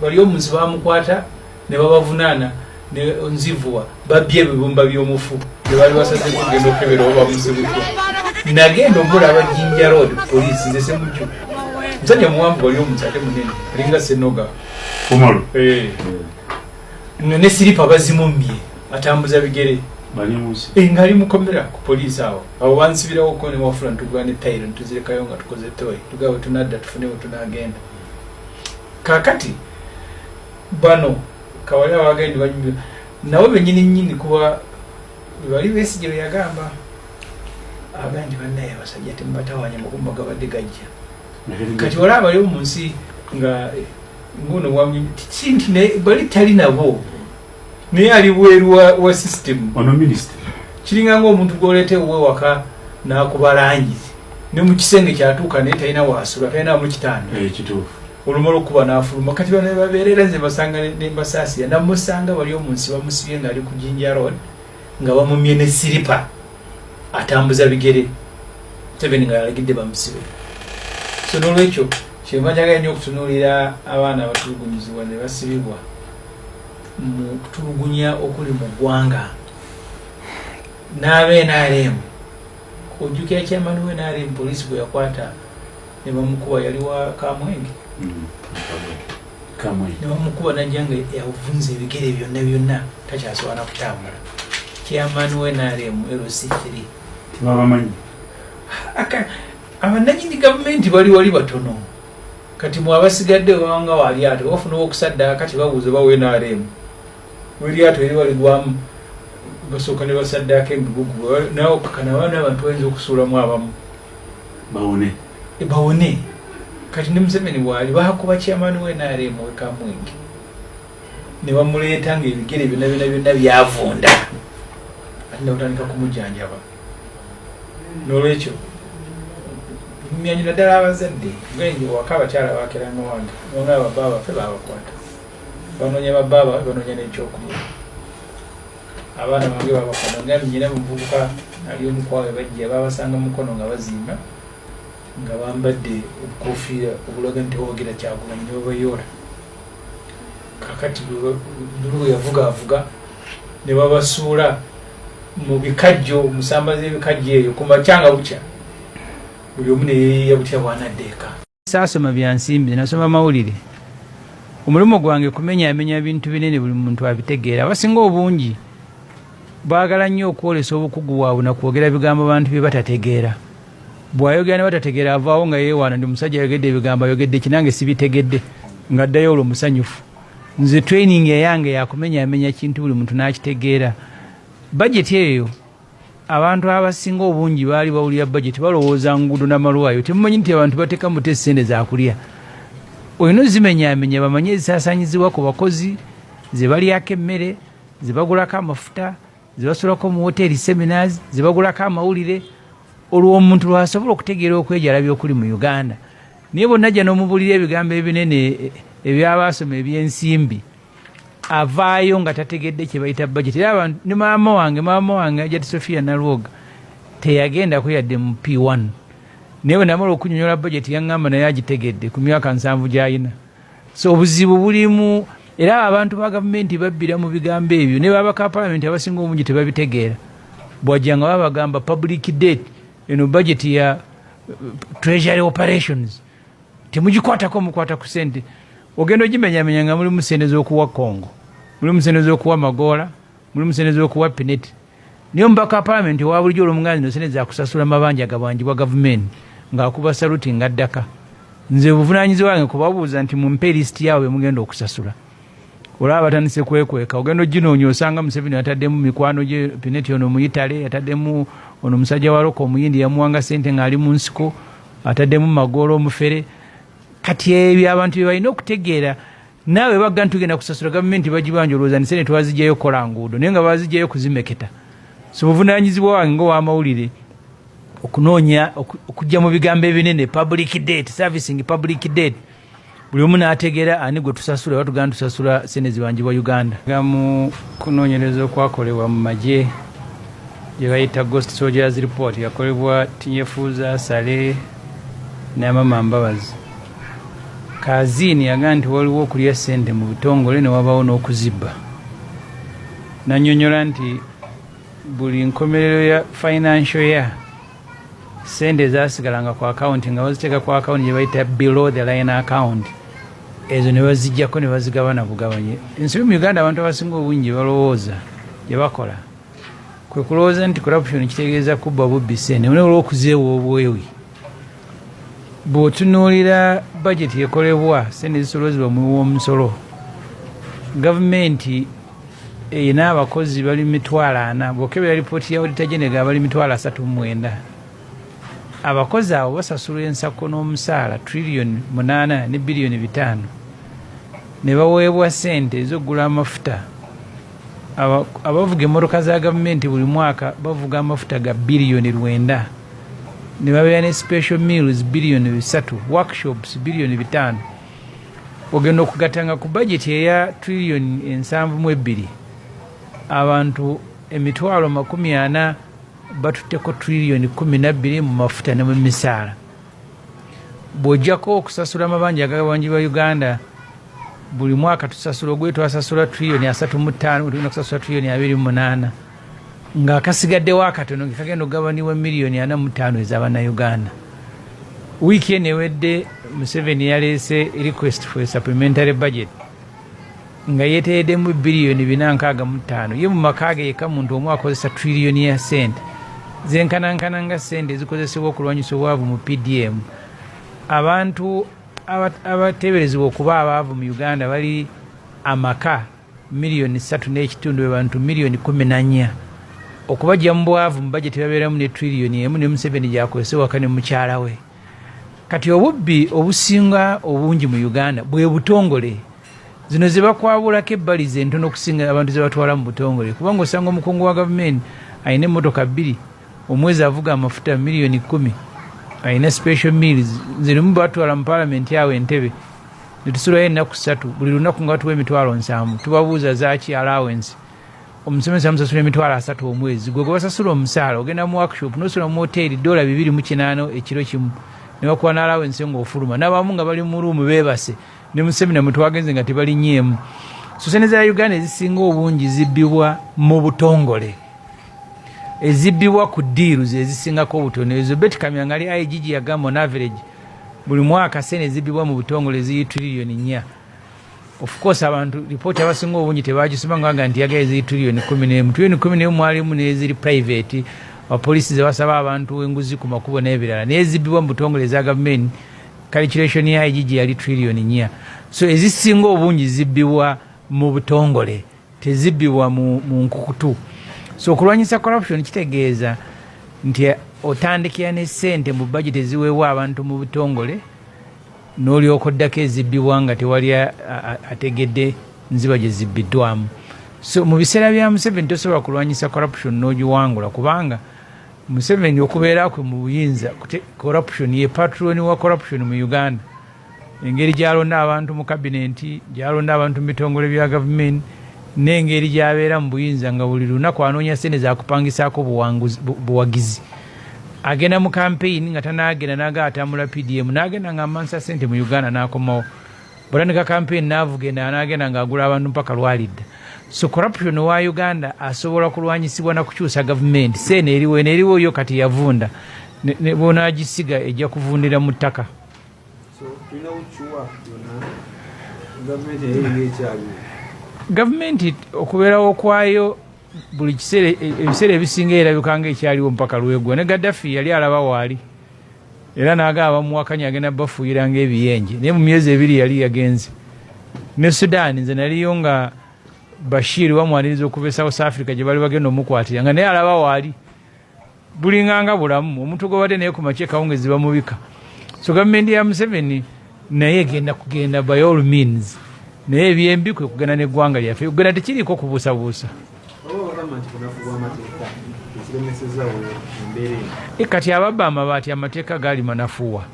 bali omuzi bamukwata ne babavunaana ne nzivuwa babbye ebibumba by'omufu ne bali basaze kugenda okukebera oba bamusibutwa nagenda omulaba jinja road police nze semujju musajja muwanvu bali omuzi ate munene alinga senoga kumalu eh. nga ne siripa bazimummye atambuza bigere eh, ngaali mukomera ku poliisi awo awo bansibirawo ko newafula ntugane tayiro ntuzirekayo nga tukoze toyi tugaba tunadda tufune wetunagenda kakati bano kawalira wagende banyumira nabo benyini nyini kuba bali besigye beyagamba abandi banaye abasajja temubatawanya makumba gabadde gajja kati wala abali omu nsi nga nguno wamwe sinti bali tali nabo naye ali bweru wa system ono minister kiringa nga omuntu gwoleta ewuwe waka nakuba langi ne mu kisenge kyatuuka naye talina wasula talina mu kitanda eh, olumala okuba nafuluma kati bana babeerera nze basanga nembasaasira namusanga wali omunsi bamusibye ngaali ku jinja road nga bamumye ne siripa atambuza bigere tebeni nga yalagidde bamusibe so nolwekyo kyemajagala nyo okutunuulira abaana abatulugunyizibwa ne basibibwa mu kutulugunya okuli mu ggwanga n'aba nrm ojjukira kyamani we nrm poliisi gwe yakwata ne bamukuba yali wa kamwenge mm. nebamukuba najja nga yavunza ebigere byonna byonna takyasobola nakutambula kyamani we nrm lc 3 tibabamanyi abananyini gavumenti bali wali batono kati mwe abasigadde wewanga wa lyato wafuna owokusaddaaka kati babuuza oba wenarem welyato eri waligwamu basooka ne basaddaaka emigugu nawe okakana abaana abantu bayinza okusuulamu abamu bawone e, bawone kati ne museveni waali bakuba kyamaani wenarem wekamwenge ne bamuleeta ngaebigere byona byona byona byavunda ati nakutandika kumujanjaba nolwekyo mumyanyi naddala abazadde gwenje waka abakyala bakera nowange nona babaa baffe babakwata banonya babaa bafe banonya nekyokulya abaana bange babakwata nga nyina muvubuka ali omukwawe bajja babasanga mukono nga bazimba nga bambadde obukofiira obulaga nti owagira kyagulanyi nebabayoola kakati buluwe yavuga avuga nebabasuula mu bikajjo musamba z'ebikajjo eyo ku makya nga bukya buli omu ne yeeyiya butya bwanadda eka saasoma bya nsimbi nasoma mawulire omulimu gwange kumenyamenya bintu binene buli muntu abitegeera abasinga obungi baagala nnyo okwolesa obukugu bwabwe nakwogera bigambo bantu bye batategeera bw'ayogera ne batategeera avaawo nga yeewaana ndi musajja ayogedde ebigambo ayogedde kinange sibitegedde ng'addayo olwo musanyufu nze training eyange yakumenyamenya kintu buli muntu nakitegeera bajeti eyo abantu abasinga obungi baali bawulira bajeti balowooza nguudo namalwayo temumanyi nti abantu bateka mute sente zakulya olina ozimenyamenya bamanye ezisasanyizibwa ku bakozi zebalyako emmere zebagulako amafuta ze basulako mu woteeri seminars ze bagulako amawulire olwo omuntu lwasobola okutegeera okwejalabya okuli mu uganda naye bonna jja n'omubuulira ebigambo ebinene e, ebyabaasoma ebyensimbi avaayo nga tategedde kye bayita bajeti era abantu ne maama wange maama wange ajati sofia nalwoga teyagendako yadde mu p1 naye bwe namala okunyonyola bajeti yaŋŋamba naye agitegedde ku myaka nsanvu gy'alina so obuzibu bulimu era abantu ba gavumenti babbira mu bigambo ebyo ne baba ka palamenti abasinga omungi tebabitegeera bwajja nga babagamba public date eno budget ya uh, treasury operations temugikwatako mukwata ku sente ogenda ogimenyamenya nga mulimu sente z'okuwa congo mulimu sente z'okuwa magoola mulimu sente z'okuwa pineti Naye omubaka wa palamenti owabulijo olwomuganda zino sente zakusasula mabanja gabanjibwa gavumenti nga akuba saluti nga addaka nze buvunanyizi wange kubabuuza nti mumpe lisiti yaabo bemugenda okusasula olaba batandise kwekweka ogenda oginoonya osanga museveni yataddemu mikwano gye pineti ono muyitale yataddemu ono musajja wa roka omuyindi yamuwanga sente ngaali mu nsiko ataddemu magoola omufere kati ebyo abantu byebalina okutegeera naawe bagga nti tugenda kusasula gavumenti bagibanja olowooza nisene twazijayo okukola nguudo naye nga bazijayo okuzimeketa so buvunanyizibwa wange ngaowamawulire okunoonya okujja mu bigambo ebinene public date servicing public date buli omu n'ategeera ani gwe tusasula batugana tusasula sente zibanjibwa uganda nga mu kunoonyereza okwakolebwa mu magye gye bayita ghost soldiers report yakolebwa tinyefuuza sale n'amama mbabazi Kaziini yagambye nti waliwo okulya ssente mu butongole ne wabaawo n'okuzibba n'annyonnyola nti buli nkomerero ya financial year ssente zaasigalanga ku akawunti nga baziteeka ku akawunti gye bayita below the line account ezo ne bazijjako ne bazigabana bugabanye ensobi mu uganda abantu abasinga obungi balowooza gye bakola kwe kulowooza nti corruption kitegeeza kubba bubbi ssente olw'okuzeewa obwewi bw'otunuulira bajeti ekolebwa sente zisolozebwa omuwi w'omusolo gavumenti erina abakozi bali mitwalo ana bwokebera lipooti ya odita genega abali mitwalo asatu mumwenda abakozi abo basasulwa ensako n'omusaala triliyoni munaana ne biliyoni bitaano ne baweebwa sente ez'okugula amafuta abavuga emmotoka za gavumenti buli mwaka bavuga amafuta ga biliyoni lwenda ne babeera ne special meals biliyoni bisatu workshops biliyoni bitaano ogenda okugatanga ku bajeti eya triliyoni ensanvu mu ebbiri abantu emitwalo makumi ana batutteko triliyoni kumi nabbiri mu mafuta ne mu misaala bw'ojjako okusasula amabanja agagabanjibwa uganda buli mwaka tusasula ogwe twasasula triliyoni asatu mu ttaano tugenda kusasula triliyoni abiri mu munaana nga kasigaddewo akatono nga kagenda okugabanibwa miliyoni ana mu ttaano ez'abannayuganda wiiki eno ewedde museveni yaleese request for supplementary budget nga yeteereddemu biliyoni bina nkaaga mu ttaano ye mu maka ge yekka muntu omu akozesa triliyoni ya sente zenkanankana nga sente ezikozesebwa okulwanyisa obwavu mu pdm abantu abateeberezebwa okuba abaavu mu uganda bali amaka Miliyoni ssatu n'ekitundu be bantu miliyoni kumi na nnya okubajja mu bwavu mu bajeti babeeramu ne triliyoni emu ne Museveni gyakozesa waka ne mukyala we. Kati obubbi obusinga obungi mu Uganda bwe butongole. Zino ze bakwabulako ebbali ze ntono okusinga abantu ze batwala mu butongole kubanga osanga omukungu wa gavumenti alina emmotoka bbiri omwezi avuga amafuta miliyoni kumi alina special meals zirimu batwala mu palamenti awo entebe netusulayo ennaku ssatu buli lunaku nga tuwa emitwalo nsanvu tubabuuza zaki allowance omusomesa amusasula emitwalo asatu omwezi gwe gwebasasula omusaala ogenda mu workshop nosula mu hoteeri dola bibiri mu kinaano ekiro kimu nebakuwa ne allowance nga ofuluma nabamu nga bali mu ruumu bebase ne mu semina mwetwagenze nga tebalinyeemu so sente za uganda ezisinga obungi zibbibwa mu butongole ezibbibwa ku diiru zezisingako obutono ezo betikamya ngali igg yagamba on average buli mwaka sente zibbibwa mu butongole ziri triliyoni nnya of course abantu lipooti abasinga obungi tebagisoma ngaaga nti yagaye ziri triliyoni kumi nemu triliyoni kumi nemu mwalimu neziri private apolisi zebasaba abantu enguzi ku makubo n'ebirala naye zibbibwa mu butongole eza gavumenti calculation ya igigi yali triliyoni nnya so ezisinga obungi zibbibwa mu butongole tezibbibwa mu nkukutu so okulwanyisa corruption kitegeeza nti otandikira ne sente mu bajeti eziweebwa abantu mu butongole n'olyoka oddako ezibbibwa nga tewali ategedde nziba gye zibbiddwamu so mu biseera bya museveni tosobola kulwanyisa corruption n'ogiwangula kubanga museveni okubeera kwe mu buyinza corruption ye patron wa corruption mu uganda engeri gyalonda abantu mu kabinenti gyalonda abantu mu bitongole bya gavumenti n'engeri gyabeera mu buyinza nga buli lunaku anoonya sente zakupangisaako buwagizi agenda mu kampeyini nga tanaagenda naga atambula pdm naagenda nga amansa sente mu uganda n'akomawo butandika kampeyini naavugenda anaagenda nga agula abantu mpaka lwalidda so corruption wa uganda asobola kulwanyisibwa na kukyusa gavumenti seeno eriwo eno eriwo yo kati yavunda bwonagisiga ejja kuvundira mu ttaka gavumenti okubeerawo kwayo buli kiseera ebiseera ebisinga erabika nga ekyaliwo mpaka lwegwa ne gaddafi yali alaba waali era naga abamuwakanya agenda bafuuyira nga ebiyenje naye mu myezi ebiri yali yagenze ne sudaani nze naliyo nga bashir bamwaniriza okuva e south africa gye bali bagenda omukwatira nga naye alaba waali bulinganga bulamu omuntu gwebadde naye ku makya ekawungezi bamubika so gavumenti ya museveni naye egenda kugenda by all means naye ebyembi kwe kugenda n'eggwanga lyaffe uganda tekiriiko kubuusabuusa e, kati ababba amabaati amateeka gaali manafuwa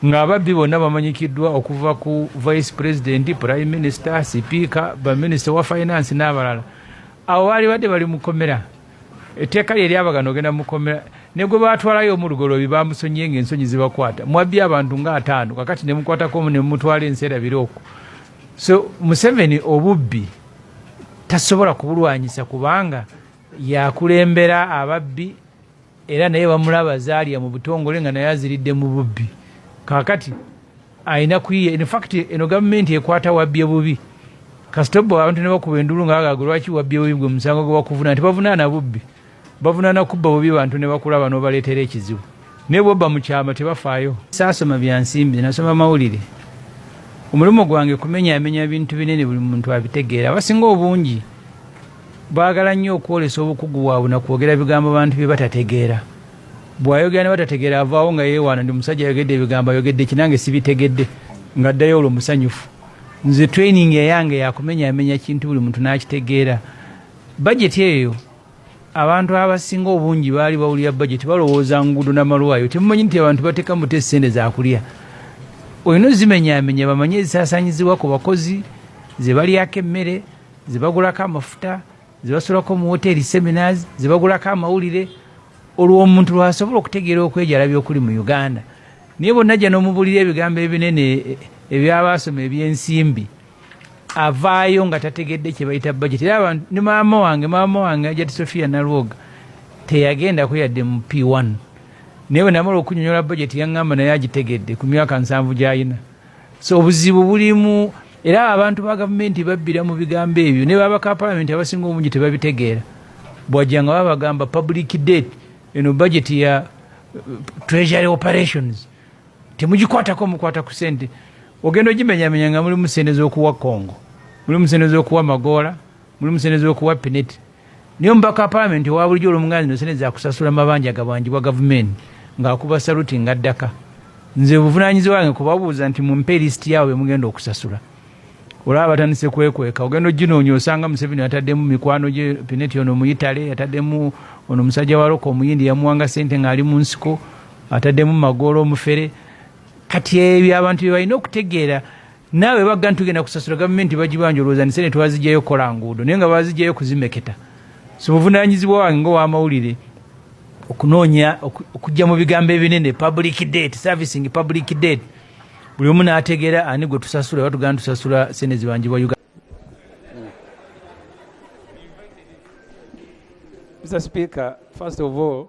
ng'ababbi bonna bamanyikiddwa okuva ku vice president prime minister sipiika baminisita wa finance n'abalala abo baali badde bali mukomera etteeka lye lyabagana ogenda mukomera ne gwe baatwalayo omulugoloobi bamusonyiye ng'ensonyi zibakwata mwabbi abantu nga ataano kakati ne mukwatako omu ne mumutwala ensi erabire okwo so museveni obubbi tasobola kubulwanyisa kubanga yakulembera ababbi era naye bamulaba zaalya mu butongole nga naye aziridde mu bubbi kakati alina kuyiya in fact eno gavumenti ekwata wabbye bubi kasita obba abantu nebakuba endulu nga bagaga lwaki wabbye bubi gwe musango gwe bakuvunana tebavunaana bubbi bavunaana kubba bubi bantu ne bakulaba n'obaleetera ekizibu naye bwobba mu kyama tebafaayo saasoma bya nsimbi nasoma mawulire omulimu gwange kumenyamenya bintu binene buli muntu abitegeera abasinga obungi baagala nnyo okwolesa obukugu bwabwe nakwogera bigambo bantu bye batategeera bwayogera ne batategeera avaawo nga yeewaana ndi musajja ayogedde ebigambo ayogedde ki nange sibitegedde nga ddayo olwo musanyufu nze training eyange yakumenyamenya kintu buli muntu n'akitegeera bajeti eyo abantu abasinga obungi baali bawulira bajeti balowooza nguudo namalwayo temumanyi nti abantu bateeka mute esente zakulya olina ozimenyamenya bamanye ezisasanyizibwa ku bakozi zebalyako emmere zebagulako amafuta ze basulako mu woteeri seminars ze bagulako amawulire olwo omuntu lwasobola okutegeera okwejalabya okuli mu uganda naye bonna jja n'omubuulira ebigambo ebinene e, ebyabaasoma ebyensimbi avaayo nga tategedde kye bayita bajeti era abantu ne maama wange maama wange ajati sofia nalwoga teyagendako yadde mu p1 naye bwe namala okunyonyola bajeti yaŋŋamba naye agitegedde ku myaka nsanvu gy'alina so obuzibu bulimu era abantu ba gavumenti babbira mu bigambo ebyo ne babaka palamenti abasinga obungi tebabitegeera bwajja nga babagamba public date eno budget ya uh, treasury operations temugikwatako mukwata ku sente ogenda ogimenyamenya nga mulimu sente z'okuwa congo mulimu sente z'okuwa magoola mulimu sente z'okuwa pineti Naye omubaka wa palamenti owa bulijo olwomuganda zino sente zakusasula mabanja gabanjibwa gavumenti nga akuba saluti nga addaka nze buvunanyizi wange kubabuuza nti mumpe lisiti yaabo bemugenda okusasula olaba batandise kwekweka ogenda oginoonya osanga museveni yataddemu mikwano gye pineti ono muyitale yataddemu ono musajja wa loka omuyindi yamuwanga sente ngaali mu nsiko ataddemu magoola omufere kati ebyo abantu byebalina okutegeera naawe bagga ntugenda kusasula gavumenti bagibanja olowooza nisene twazijayo okukola nguudo naye nga bazijayo kuzimeketa so buvunanyizibwa wange ngaowamawulire okunoonya okujja mu bigambo ebinene public date servicing public date buli omu n'ategeera ani gwe tusasula batugana tusasula sente zibanjibwa uganda Mr. Speaker, first of all,